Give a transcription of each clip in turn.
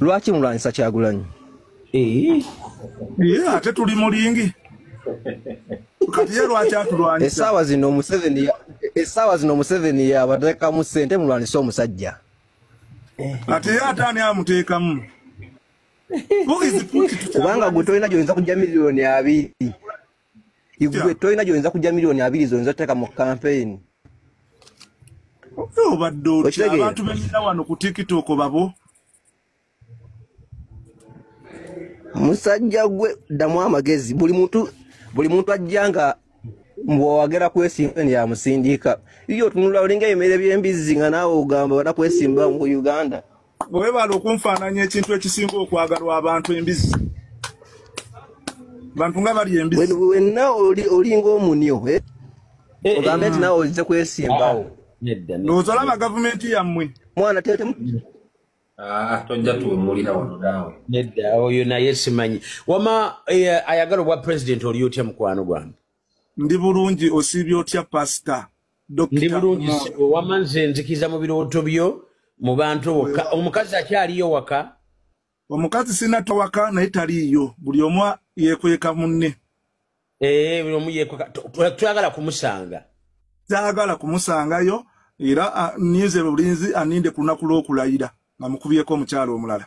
lwaki mulwanyisa kyagulanyi eh. ate tuli mulingi kati ye lwaki atulwanyisa esaawa zino omuseveni esaawa zino omuseveni yabateekamu sente mulwanyisa omusajja eh. kati ye ate ani amuteekamu kubanga gwe tolina gyoyinza kujja miliyoni abiri igwe tolina gyoyinza kujja miliyoni abiri zoyinza oteeka mu kampeyini obadde otya abantu benyina wano ku tiktok babo musajja gwe ddamu amagezi buli muntu buli muntu ajja nga mbwowagera kwesimba neyamusindiika iyo otunula olinga ebimere byembizzi nga naawe ogamba bana kwesimba mu uganda webale okunfaananya ekintu ekisinga okwagalwa abantu embizi bantu nga bali embizi wenna olinga omunyo eh? Eh, ogambe eh. nti nawe ozize kwesimbawo ah, ndowooza olaba gavumenti yammwe mwana tetemu ah, tojja tuwemulira wano naawe nedda oyo naye simanyi wama ayagala obwa pulezidenti oli otya mukwano gwange ndi bulungi osiibye otya pasita ndi bulungi sebo wama nze nzikiza mu birooto byo mu bantu wokka omukazi akyaliyo waka omukazi sina tawaka naye taliiyo buli omu yekweka munne ee eh, buli omu yekweka twagala kumusanga twagala kumusangayo era ninze bulinzi aninde ku lunaku lw'okulayira nga mukubyeko omukyalo omulala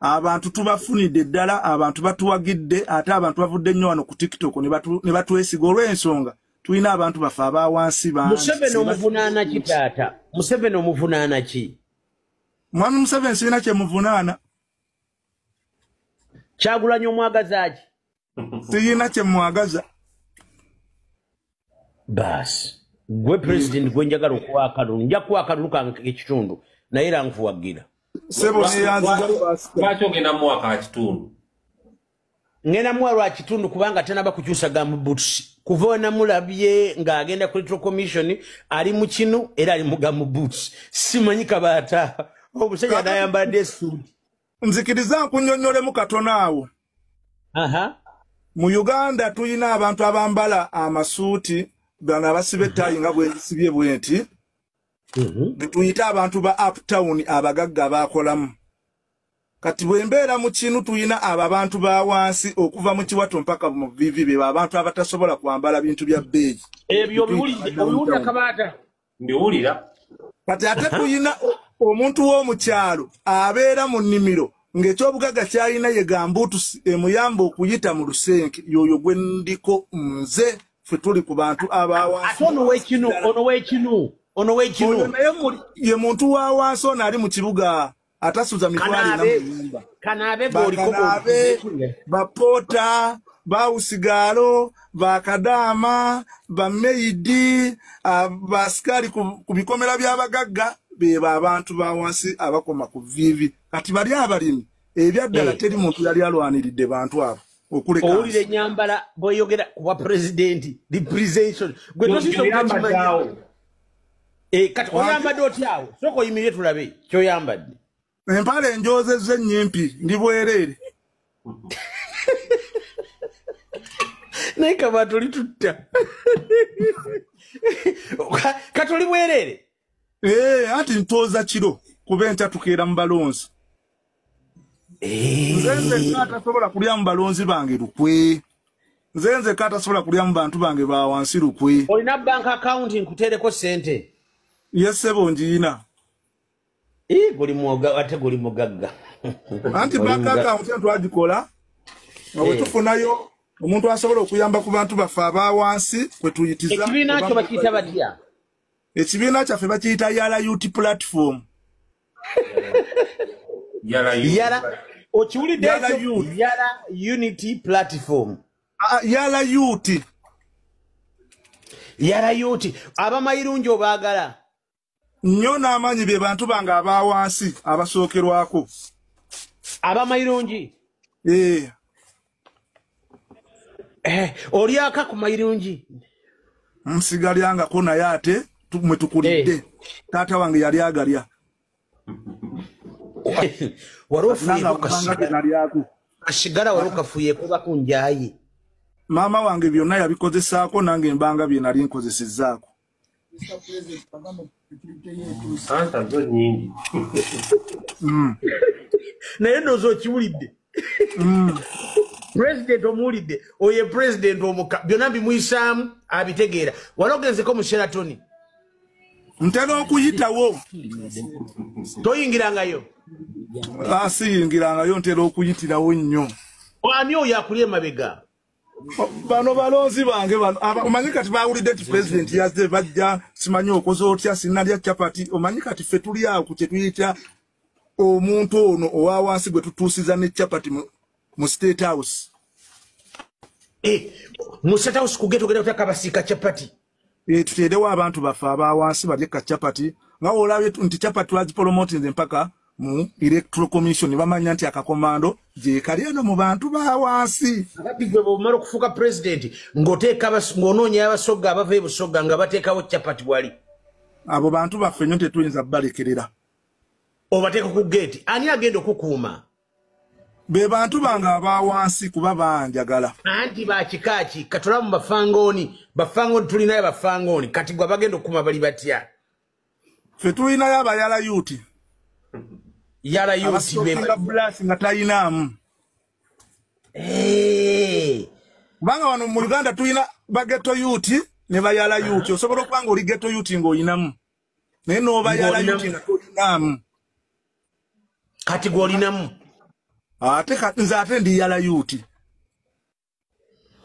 abantu tubafunidde ddala abantu batuwagidde ate abantu bavudde nnyo wano ku tiktok ne batwesiga olw'ensonga tulina abantu baffe aba wansi bamuseveni omuvunaana ki taata museveni omuvunaana ki mwami museveni sirina kyemuvunaana kyagulanyi omwagazaaki siyina kyemwagaza baasi gwe president gwe njagala okuwa akalulu nja kuwa akalulu kange ekitundu naye era nkuwagira sebo neyanzilwaki ogenda muwa ka kitundu ngenda muwa lwa kitundu kubanga tenaba kukyusa ga mubutusi kuva wenamulabye ng'agenda ku little commission ali mu kinu era ali mu ga mubutusi simanyi kabaata omusajja nayambadde esuuti nzikiriza nkunyonyolemu katono awo mu uganda tulina abantu abambala amasuuti gano abasiba ettayi nga bwezisibye bwenti mhm. netuyita abantu ba uptown abagagga bakolamu kati bwembeera mu kinu tulina abo abantu ba wansi okuva mu kiwato mpaka mu vivi beba abantu abatasobola kwambala bintu bya bbeeyi ebyo obiwulidde obiwulira kabaata mbiwulira kati ate kuyina omuntu w'omukyalo abeera mu nnimiro ng'ekyobugaga kyalina ye gambuutusi emuyamba okuyita mu lusenke yoyo gwe ndiko nze fe tuli ku bantu abawansi ono wekinu ono wekinu ono wekinu naye ye muntu wa wansi ono ali mu kibuga atasuza mitwalo ena muyumba bakanabe bapoota bawusigaalo bakadaama bameyidi basikaali ku bikomera by'abagagga bebo abantu ba wansi abakoma ku viivi kati bali abalimi ebyaddala eh. teri muntu yali alwaniridde bantu abo owulira enyambala bweyogera kuba pulezidenti representation gwe tosisoakimanyi Eh, kati oyambadde otyawo soka oyimirire tulabe kyoyambadde empala enjozezza ennyimpi ndi bwereere naye kaba toli tutta katoli bwereere eh, anti ntooza kiro kuba enkya tukeera mu balonzi Eh. nze nzekka atasobola kulyamu balonzi bange lukwe nze nzekka atasobola kulyamu bantu bange ba wansi lukwe olina bank account nkuteereko sente yesebo njiyina ate guli mugagga anti bank account entu agikola nga eh. wetufunayo omuntu asobola okuyamba ku bantu baffe aba wansi kwetuyitiza ekibiina kyo bakiyita batya ekibiina kyaffe bakiyita yala ut platform yala yala okiwulidde yala unity platform ah, ah, yala yuti yala yuti abamayirungi obaagala nnyo n'amaanyi bye bantu bange aba wansi abasookerwako abamayirungi ee eh. eh, olyaka ku mayirungi nsigalyangako naye ate mwe tukulidde eh. taata wange yali agalya wari ofuyekokasigalaku asigala wari okafuyeko bakunjaye maama wange byonna yabikozesaako nange embanga bye nali nkozesezaako ansa zo nyingi mm. naye noza okiwulidde mm. president omuwulidde oye president omuka byonna bimuyisaamu abitegeera wali ogenzeko mu sheratoni ntera okuyitawo toyingirangayo asiyingirangayo ah, ntera okuyitirawo nnyo ani oyo akuli emabega bano balonzi bange bano omanyi kati bawulidde nti pulezidenti yazze bajja simanyi okoze otya sinalya capati omanyi kati ffe tuli awo ku kyetuyita omuntu ono owa wansi gwe tutuusiza ne capati mu state house eh, mu state house kugeta ogenda otya kabasiika capati eh, tuteerewo abantu baffe abawansi balye ka chapati nga olabye nti chapati twagipolomotinze mpaka mu electoral commission bamanya nti akakomando gyekali eno mu bantu bawansi ababbi gwe bwomala okufuuka pulezidenti ng'oteeka ng'onoonya abasogga abava ebusogga nga bateekawo chapati wali abo bantu baffe nyo tetuyinza balekerera obateeka ku geeti ani agenda okukuuma be bantu bange aba wansi kuba banjagala anti bakikaaki katula mu bafangooni bafangooni tulinayo bafangooni kati gwe abagenda okukuma bali batya fe tulinayo abayala yuti yala yuti bebulasi nga talinaamu eh. kubanga wano mu uganda tulina bageto yuti ne bayala yuti osobola okuba nga oli geto yuti ng'olinamu naye n'obayala yuti nga tolinaamu kati gwolinamu ate nze ate ndi yala yuti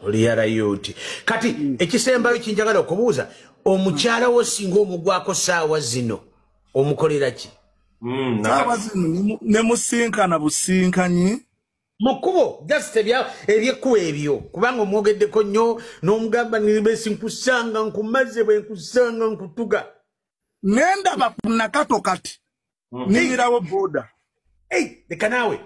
oli yala yuti kati hmm. ekisembayo kinjagala okubuuza omukyala wo singa omugwako saawa zino omukolera ki hmm, saawa zino nemusinkana businkanyi mu kkubo just ebyekkubo ebyo kubanga omwogeddeko nnyo n'omugamba nibesi nkusanga nkumaze bwe nkusanga nkutuga nendaba ku nakato kati hmm. niyirawo boda leka naawe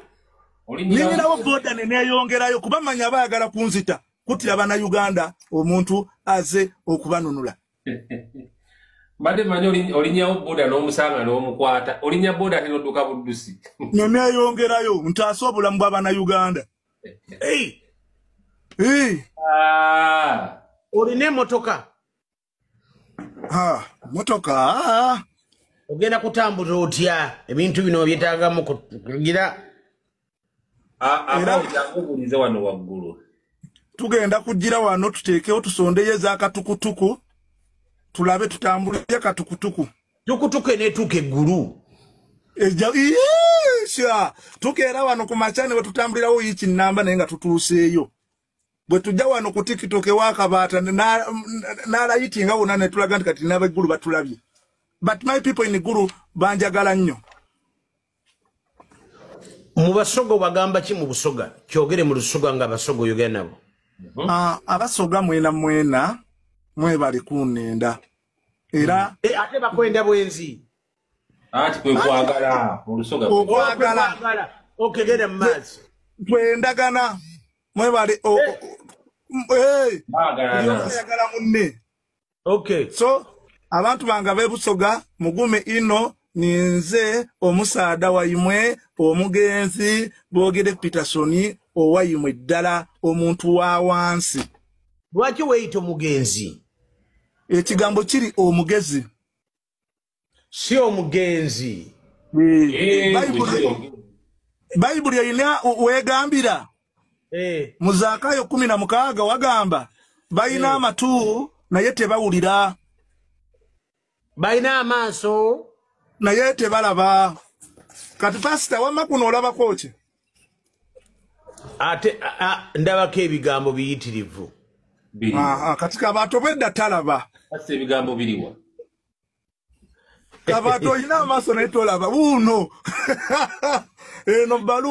niyirawo boda neneyongerayo kuba manya baagala kunzita kutira bana uganda omuntu aze okubanunula mbadde manyi olinyawo boda n'omusanga n'omukwata olinya boda ate noduka buddusi neneyongerayo ntaase obulamu bwabana uganda ah. olina emotoka Ah, motoka ah. ogenda kutambuza otya ebintu bino byetagamu kugira A- ama Era- ojakubulize wano waggulu tugenda kujjira wano tuteekewo tusondeyo ezakatukutuku tulabe tutambulire katukutuku tukutuka enetuuka eggulu Eja- Iyee, sha tukeera wano ku makya ne wetutambulirawo yiiki nnamba naye nga tutuuseeyo bwe tujja wano ku tiktok ewakabaata nalayiti nga wona netulaga nti kati nabeggulu batulabye but my people in gulu banjagala nnyo mu basoga obagamba ki mu busoga kyogere mu lusoga nga abasoga oyogera nabo mhm. ah, abasoga mwena mwena mwebali kunenda era mhm. eh, ate bakwenda bwenzi anti kwe kwagala mu lusoga kwagala okegere mu maazi kwendagana mwebale oyagala munne okay so abantu banga bebusoga mugume ino ninze omusaada waimwe omugenzi bogere petersoni owaimwe ddala omuntu wa wansi lwaki weyita omugenzi ekigambo kiri omugezi si omugenzi eh, bayibuli erina wegambira eh. mu zakayo kumi na mukaaga wagamba balina eh. amatu naye tebawulira balina amaaso naye tebalaba kati pasita wamma kuno olabako ki ate ndabako ebigambo biyitirivu kati kabantu obwedda talaba ate ebigambo biriwa kabantu olina amaaso naye tolaba wuuno eno baluwa